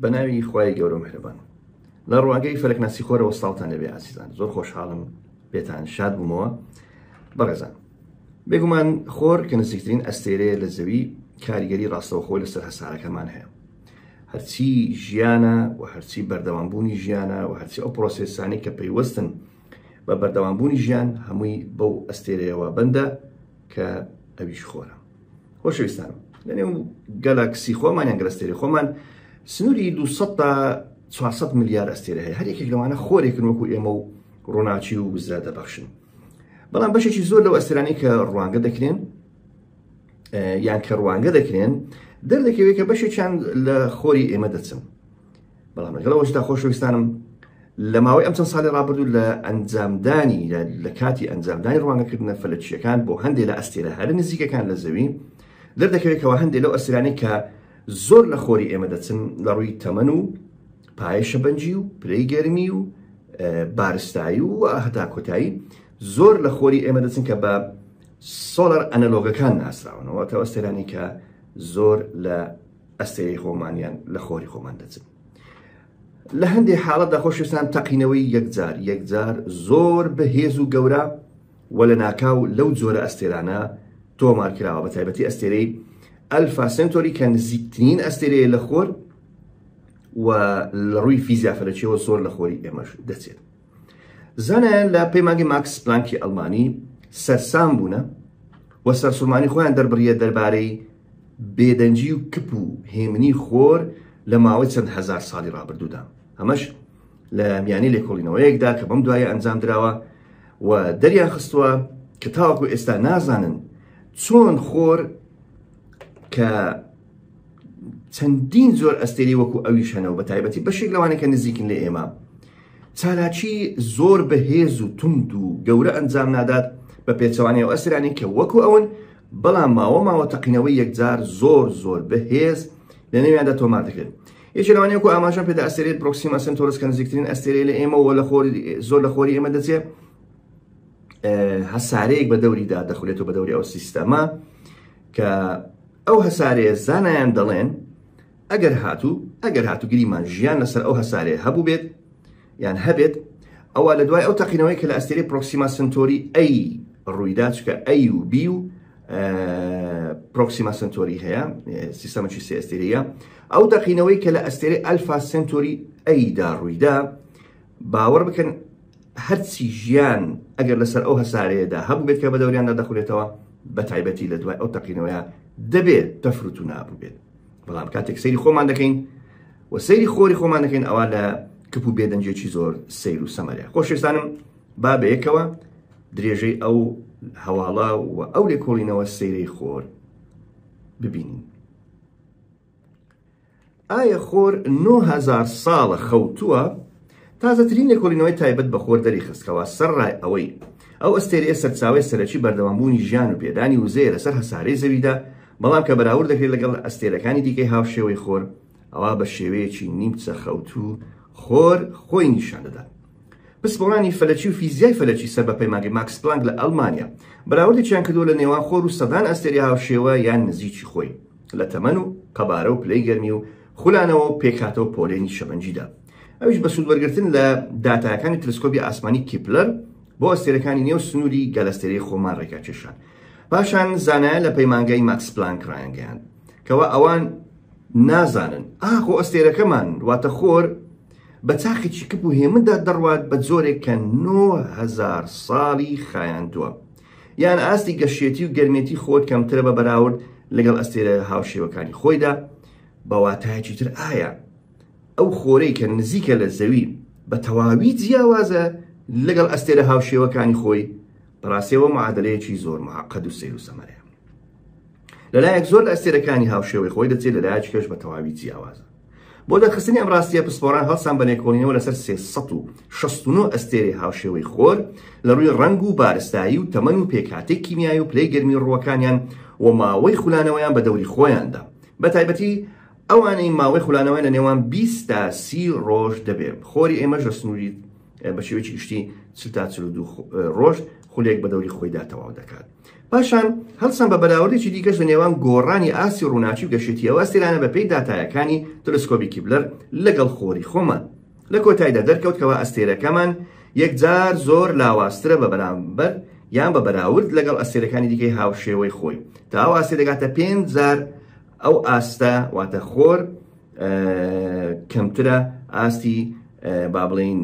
بە ناوی خوای گەورە مهرەبان لە ڕواگەی فەرەکناسی خۆرەوە ساڵتان لەبێ ئاسیزان زۆر خۆشحاڵم پێتان شاد بوومەوە بەڕێزان بێگومان خۆر کە نزیکترین ئەستێرەیە لە زەوی کاریگەری ڕاستەوخۆی لەسەر هەسارەکەمان هەیە هەرچی ژیانە و هەرچی بەردەوامبوونی ژیانە و هەرچی ئەو پرۆسسانی کە پەیوەستن بە بەردەوامبوونی ژیان هەمووی بەو ئەستێرەیەوە بەندە کە ئەویش خۆرە خۆشەویستان لەنێو گەلاکسی خۆمان یان گەلەستێری خۆمان سنووری 200 تا 400 ملیار ئەستێرە هەیە هەر یەکێک لەوانە خۆرێکن وەکو ئێمە و ڕووناچی و وزرا دەبەخشن بەڵام بەشێکی زۆر لەو ئەسترانی کە ڕوانگە دەکرێن یان کە ڕوانگە دەکرێن دەردەکەوێت کە بەشێکیان لە خۆری ئێمە دەچن بەڵام لەگەڵ ئەوەشدا خۆشەویستانم لە ماوەی ئەم چەند ساڵی ڕابردوو لە ئەنجامدانی لە کاتی ئەنجامدانی ڕوانگەکردنە فەلەکیەکان بۆ هەندێک لە ئەستێرە هەرە نزیکەکان لە زەوی دەردەکەوێتەوە هەندێک لەو ئەسرانی کە زۆر لە خۆری ئێمە دەچن لە ڕووی تەمەن و پایشە بەنجی و پرەی گەرمی و بارستایی و هەتا کۆتایی زۆر لە خۆری ئێمە دەچن کە بە سۆلەر ئەنەلۆگەکان ناسراونەوە تەوەستێرانی کە زۆر لە ئەستێرەی خۆمانیان لە خۆری خۆمان دەچن لە هەندێک حاڵەتدا خۆشویستان تەقینەوەی یەکجار یەکجار زۆر بەهێز و گەورە و لە ناکاو لەو جۆرە ئەستێرانە تۆمار کراوە بە تایبەتی ئەستێرەی ئەلفا سنتۆری کە نزیکترین ئەستێرەیە لە خۆر و لە ڕووی فیزیافەرەکیەوە زۆر لە خۆری ئێمەش دەچێت زانایان لە پەیمانگەی ماکس پلانکی ئەلمانی سەرسام بوونە و سەرسومانی خۆیان دەربڕیە دەربارەی بێدەنگی و کپ و هێمنی خۆر لە ماوەی چەند هزار ساڵی ڕابردوودا ئەمەش لە میانی لێکۆڵینەوەیەکدا کە بەم دوایە ئەنجام درراوە و دەریان خستووە کە تاوەکو ئێستا نازانن چۆن خۆر کە چەندین زۆر ئەستێری وەکو ئەویش هەنەوە بە تایبەتی بەشێک لەوانەکە نزیکن لە ئێمە چالاکی زۆر بەهێز و تند و گەورە ئەنجام نادات بە پێچەوانەیە و ئەسرانی کە وەکو ئەون بەڵام ماوە ماوە تەقینەوەی یەکجار زۆر زۆر بەهێز لە نێویاندا تۆمار دەکرێت یەکی لەوانەیە و ئاماژە پێدا ئەسێرێت پرۆکسیم ئەسن تۆرس کە نزیکترین ئەستێرەی لە ئێمە و لە خۆری زۆر لە خۆری ئێمە دەچێت هەسارەیەک بە دەوریدا دەخولێت و بە دەوری ئەو سیستەمە کە ئەو هەسارەیە زانایان دەڵێن ئەگەر هاتوو ئەگەر هاتوو گریمان ژیان لەسەر ئەو هەسارەیە هەبوو بێت یان هەبێت ئەوە لە دوای ئەو تەقینەوەی کە لە ئەستێری پرۆکسیما سنتۆری ئەی ڕوویدا چکە ئەی و بی و پرۆکسیما سنتۆری هەیە سیستەمەکی سێ ئەستێریە ئەو تەقینەوەی کە لە ئەستێری ئەلفا سنتۆری ئەیدا ڕوویدا باوەڕ بکەن هەرچی ژیان ئەگەر لەسەر ئەو هەسارەیەدا هەبوو بێت کە بە دەوریاندا دەخورێتەوە بەتایبەتی لە دوای ئەو تەقینەوەیە دەبێ تەفروت و نابوو بێت بەڵام کاتێک سەیری خۆمان دەکەین و سەیری خۆری خۆمان دەکەین ئەوە لە کپ و بێدەنجێکی زۆر سیر و سەمەرە خۆشێستانم با بەیەکەوە درێژەی ئەو هەواڵە و ئەو لێکۆڵینەوە سەیرەی خۆر ببینین ئایا خۆر نۆ هەزار ساڵە خەوتووە؟ تازەترین لێکۆڵینەوەی تایبەت بە خۆر دەریخست کەوا سەرڕای ئەوەی ئەو ئەستێرەیە سەرچاوەی سەرەکی بەردەوامبوونی ژیان و پێدانی وزەیە لەسەر هەسارەی زەویدا، بەڵام کە بەراورد دەکرێت لەگەڵ ئەستێرەکانی دیکەی هاوشێوەی خۆر، ئەوا بە شێوەیەکی نیمچە خەوتوو خۆر خۆی نیشان دەدات. پسپۆڕانی فەلەکی و فیزیای فەلەکی سەر بە پەیمانگەی ماکس پلانک لە ئەڵمانیا بەراوردێکیان کردووە لە نێوان خۆر و سەدان ئەستێرەی هاوشێوە یان نزیکی خۆی لە تەمەن و قەبارە و پلەی گەرمی و خولانەوە و پێکهاتە و پۆلێنی شەمەنجیدا ئەویش بە سوودوەرگرتن لە داتاکانی تلسکۆبی ئاسمانی کیپلەر بۆ ئەستێرەکانی نێو سنووری گەلەستێرەی خۆمان ڕێکا کێشان پاشان زانایە لە پەیمانگای ماکس پلانک ڕایانگەیان کەوا ئەوان نازانن ئاخۆ ئەستێرەکەمان واتە خۆر بە چاخێکی کپ و هێمندا دەڕوات بە جۆرێک کە نۆ هەزار ساڵی خایاندووە یان ئاستی گەشێتی و گەرمێتی خۆت کەمترە بە بەراورد لەگەڵ ئەستێرە هاوشێوەکانی خۆیدا بەواتایەکی تر ئایا ئەو خۆرەی کە نزیکە لە زەوی بە تەواوی جیاوازە لەگەڵ ئەستێرە هاوشێوەکانی خۆی بەڕاستەوە معادلەیەکی زۆر معقد و سیر و سەمەرەیە لەلایەک زۆر لە ئەستێرەکانی هاوشێوەی خۆی دەچێت لەلایەکی کەش بە تەواوی جیاوازە بۆ دەرخستنی ئەم ڕاستیە پسپۆران هەڵسان بە لێکۆڵینەوە لەسەر 369 ئەستێرەی هاوشێوەی خۆر لە ڕووی ڕەنگ و بارستایی و تەمەن و پێکهاتەی کیمیایی و پلەی گەرمی ڕووەکانیان و ماوەی خولانەوەیان بە دەوری خۆیاندا بە تایبەتی ئەوانەی ماوەی خولانەوەی لە نێوان 20 تا سی ڕۆژ دەبێت خۆری ئێمەش لە سنووری بە شێوەی گشتی چل تا چل دوو ڕۆژ خولێک بە دەوری خۆیدا تەواو دەکات پاشان هەڵسان بە بەراوردێکی دیکەش لە نێوان گۆڕانی ئاستی ڕووناکی و گەشێتی ئەو ئەستێرانە بەپێی داتایەکانی تەلسکۆبی کیبلەر لەگەڵ خۆری خۆمان لە کۆتایدا دەرکەوت کەوا ئەستێرەکەمان یەکجار زۆر لاوازترە بە بەرامبەر یان بە بەراورد لەگەڵ ئەستێرەکانی دیکەی هاوشێوەی خۆی تا ئەو ئاستێ دەگاتە پێنج جار ئەو ئاستە واتە خۆر کەمترە ئاستی با بڵین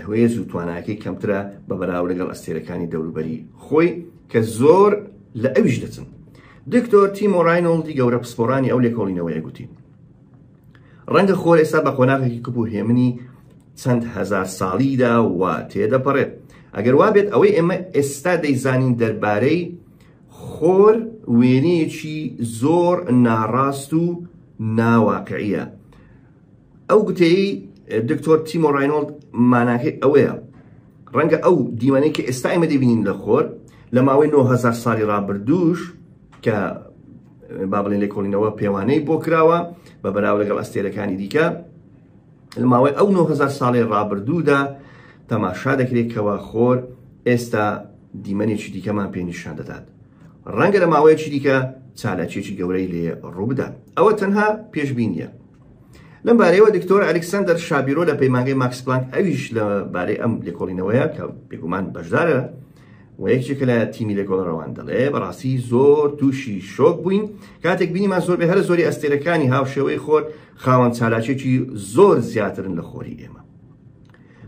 هوێز و تواناکەی کەمترە بە بەراو لەگەڵ ئەستێرەکانی دەوروبەری خۆی کە زۆر لە ئەویش دەچن دکتۆر تیمۆ ڕینۆڵدی گەورە پسپۆرانی ئەو لێکۆڵینەوەیە گوتی ڕەنگە خۆر ئێستا بە قۆناغێکی کپ و هێمنی چەند هزار ساڵیدا و تێدەپەڕێت ئەگەر وابێت ئەوەی ئێمە ئێستا دەیزانین دەربارەی خۆر وێنەیەکی زۆر ناڕاست و ناواقعیە ئەو گوتەی دکتۆر تیمۆ ڕینۆڵد ماناکەی ئەوەیە ڕەنگە ئەو دیمەنەی کە ئێستا ئێمە دەبینین لە خۆر لە ماوەی 9000 ساڵی ڕابردووش کە با بڵێن لێکۆڵینەوە پێوانەی بۆ کراوە بە بەراو لەگەڵ ئەستێرەکانی دیکە لە ماوەی ئەو 9000 ساڵی ڕابردوودا تەماشا دەکرێت کەوا خۆر ئێستا دیمەنێکی دیکەمان پێنیشان دەدات ڕەنگە لە ماوەیەکی دیکە چالاکیێکی گەورەی لێ ڕووبدا ئەوە تەنها پێشببینە لەم بارەیەوە دکتۆر ئەلکسندەر شابیرۆ لە پەیمانگەی ماکس پلانک ئەویش لە بارەی ئەم لێکۆڵینەوەیە کە بێگومان بەشدارە و یەکێکە لە تیمی لە گۆڵەڕەوان دەڵێ بەڕاستی زۆر تووشی شۆک بووین کاتێک بینیمان زۆر بێ هەر زۆری ئەستێرەکانی هاوشێوەی خۆر خاوەن چالاکێکی زۆر زیاترن لە خۆری ئێمە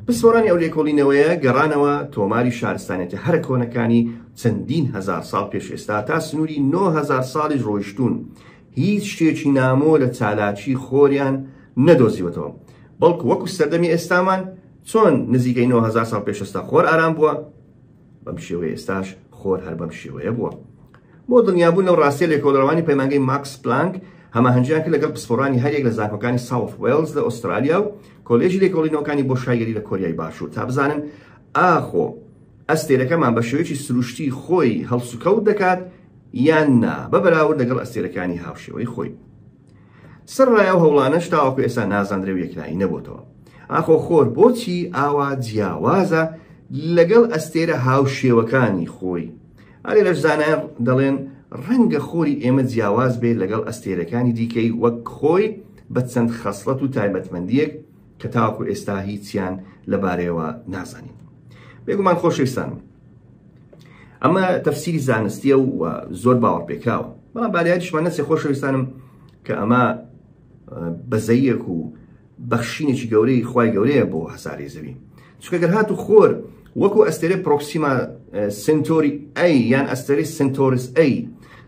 پسپۆرانی ئەو لێکۆڵینەوەیە گەڕانەوە تۆماری شارستانێتە هەرە کۆنەکانی چەندین هزار ساڵ پێش ئێستا تا سنووری 9هزار ساڵی ڕۆیشتون هیچ شتێکی نامۆ لە چالاکی خۆریان نەدۆزیوەتەوە بەڵکو وەکو سەردەمی ئێستامان چۆن نزیکەی 9هزار ساڵ پێشستا خۆر ئارام بووە بەم شێوەیە ئێستاش خۆر هەر بەم شێوەیە بووە بۆ دڵنیابوون لەو ڕاستیە لێکۆڵەرەوانی پەیمانگەی ماکس پلانک هەماهەنگیان کرد لەگەڵ پسپۆرانی هەریەک لە زانکۆکانی ساوف وێلز لە ئوسترالیا و کۆلێژی لێکۆڵینەوەکانی بۆ شایگەری لە کۆریای باشوور تا بزانن ئاخۆ ئەستێرەکەمان بە شێوەیەکی سروشتی خۆی هەڵسوکەوت دەکات یان نا بە بەراورد لەگەڵ ئەستێرەکانی هاوشێوەی خۆی سەرەڕای ئەو هەوڵانەش تاوەکو ئێستا نازاندرێ و یەکلایی نەبۆتەوە ئاخۆ خۆر بۆچی ئاوا جیاوازە لەگەڵ ئەستێرە هاوشێوەکانی خۆی ئەلێ لەش زانایان دەڵێن ڕەنگە خۆری ئێمە جیاواز بێت لەگەڵ ئەستێرەکانی دیکەی وەک خۆی بە چەند خەسڵەت و تایبەتمەندیەک کە تاوەکو ئێستا هیچیان لەبارەیەوە نازانین بێگومان خۆشەویستان ئەمە تەفسیری زانستیە و زۆر باوەڕ پێکراوە بەڵام باریادیشمان نەچێ خۆشەویستانم کە ئەمە بەزەیەک و بەخشینێکی گەورەی خی گەورەیە بۆ هەساری زەوی چکەگەر هات و خۆر وەکو ئەستێرە پرۆکسیما سنتۆری ئەی یان ئەستێری سنتۆرس ئەی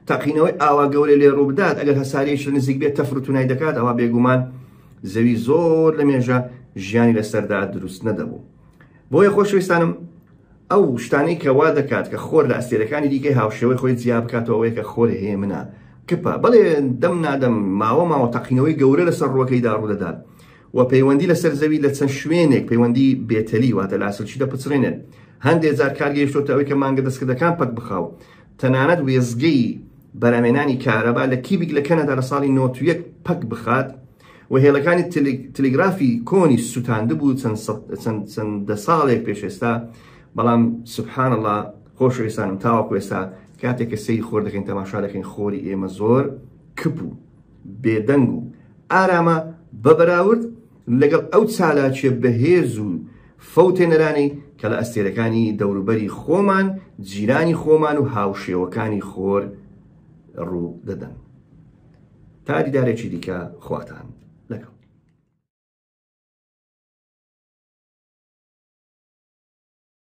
تاقینەوەی ئاوا گەورە لێ ڕووبدات ئەگەر هەسارێکی نزیک بێت تەفرتونای دەکات ئەوە بێگومان زەوی زۆر لە مێژە ژیانی لەسەردا دروست نەدەبوو بۆیە خۆشویستانم ئەو شتانەی کە وا دەکات کە خۆر لە ئەستێرەکانی دیکەی هاوشێوەی خۆی جیا بکاتەوەی کە خۆر هەیە منە کپە بەڵێ دەم نادەم ماوە ماوە تەقینەوەی گەورە لەسەر ڕوەکەیدا ڕوو دەدات و پەیوەندی لەسەر زەوی لە چەند شوێنێک پەیوەندی بێتەلی واتە لاسلچی دەپچڕێنێت هەندێک جار کارگەیشتۆتە ئەوەی کە مانگە دەستکردەکان پەک بخاو تەنانەت وێزگەی بەرهەمهێنانی کارەبا لە کیبیک لە کەنەدا لە ساڵی نۆد و یەک پەک بخات و هێڵەکانی تلیگرافی کۆنیش سوتاندبوو چەند دە ساڵێک پێش ئێستا بەڵام سبحان اللە خۆشویستانم تاوەکو ئێستا کاتێک کە سەیری خۆر دەکەین تەماشا دەکەین خۆری ئێمە زۆر کپ و بێدەنگ و ئارامە بە بەراورد لەگەڵ ئەو چالاکیە بەهێز و فەوتێنەرانەی کە لە ئەستێرەکانی دەوروبەری خۆمان، جیرانی خۆمان و هاوشێوەکانی خۆر ڕوو دەدەن. تا دیدارێکی دیکە خواتان لەگەڵ.